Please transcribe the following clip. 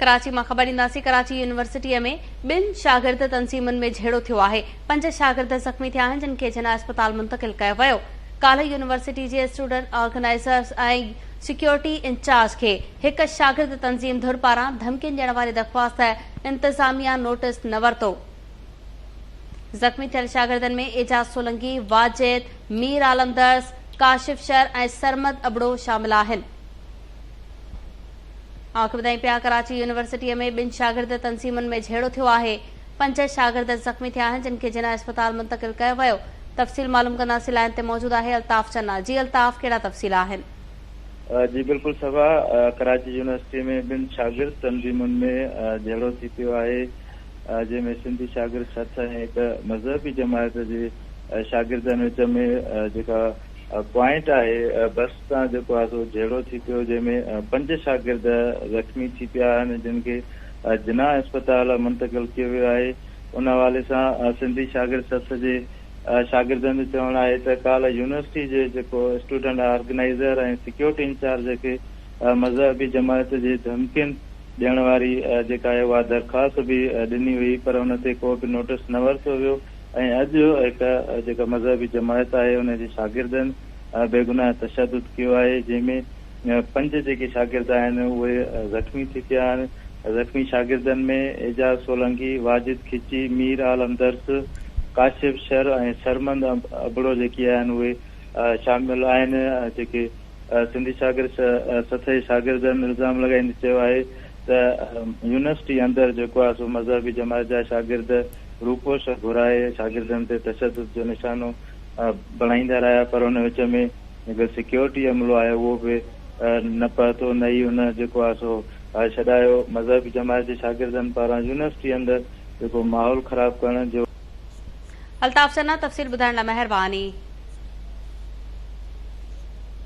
ڪراچي مان خبر ڏينداسين ڪراچي يونيورسٽيء ۾ ٻن شاگرد تنظيمن ۾ جهيڙو ٿيو آهي پنج شاگرد زخمي ٿيا آهن جن کي جناح اسپتال منتقل ڪيو ويو ڪالهه يونيورسٽي جي اسٽوڊنٽ آرگنائيزرز ۽ سيڪيورٽي انچارج کي هڪ شاگرد تنظيم ڌر پاران ڌمڪين ڏيڻ واري درخواست انتظاميا نوٽس نه ورتو زخمي ٿيل شاگردن ۾ اعجاز سولنگي واجد مير عالم درس ڪاشف شر ۽ سرمد ابڙو شامل آهن آخ ٻڌائين پيا ڪراچي يونيورسٽيء ۾ ٻن شاگرد تنظيمن ۾ جهيڙو ٿيو آهي، پنج شاگرد زخمي ٿيا آهن، جن کي جناح اسپتال منتقل ڪيو ويو، تفصيل معلوم ڪنداسين، لائين تي موجود آهي الطاف چنا، جي الطاف ڪهڙا تفصيل آهن؟ جي بلڪل صبا، ڪراچي يونيورسٽيء ۾ ٻن شاگرد تنظيمن ۾ جهيڙو ٿي پيو آهي، جنهن ۾ سنڌي شاگرد سٿ ۽ هڪ مذهبي جماعت جي شاگردن وچ ۾ جيڪا پوائنٽ آهي بس سان جيڪو آهي سو جهيڙو ٿي پيو جنهن ۾ پنج شاگرد زخمي ٿي پيا آهن جن کي جناح اسپتال منتقل ڪيو ويو آهي ان حوالي سان سنڌي شاگرد سٿ جي شاگردن جو چوڻ آهي ته ڪالهه يونيورسٽي جي جيڪو اسٽوڊنٽ آرگنائيزر ۽ سيڪيورٽي انچارج کي مذهبي جماعت جي ڌمڪين ڏيڻ واري جيڪا آهي اها درخواست به ڏني هئي پر ان تي ڪو به نوٽس نه ورتو ويو ۽ اڄ هڪ جيڪا مذهبي جماعت آهي ان جي شاگردن بيگناهه تشدد ڪيو آهي جنهن ۾ پنج جيڪي شاگرد آهن اهي زخمي ٿي پيا آهن زخمي شاگردن ۾ اعجاز سولنگي، واجد کچي، مير عالم درس، ڪاشف شر ۽ سرمند ابڙو جيڪي آهن اهي شامل آهن جيڪي سنڌي شاگرد سٿئي شاگردن الزام لڳائيندي چيو آهي ته يونيورسٽي اندر جيڪو آهي سو مذهبي جماعت جا شاگرد روپوش گهرائي شاگردن تي تشدد جو نشانو بڻائيندا رهيا پر ان وچ ۾ جيڪو سيڪيورٽي عملو آهي اهو به نه پهتو نه ئي ان جيڪو آهي سو ڇڏايو مذهبي جماعت جي شاگردن پاران يونيورسٽي اندر جيڪو ماحول خراب ڪرڻ جو الطاف چنا تفصيل ٻڌائڻ لاء مهرباني.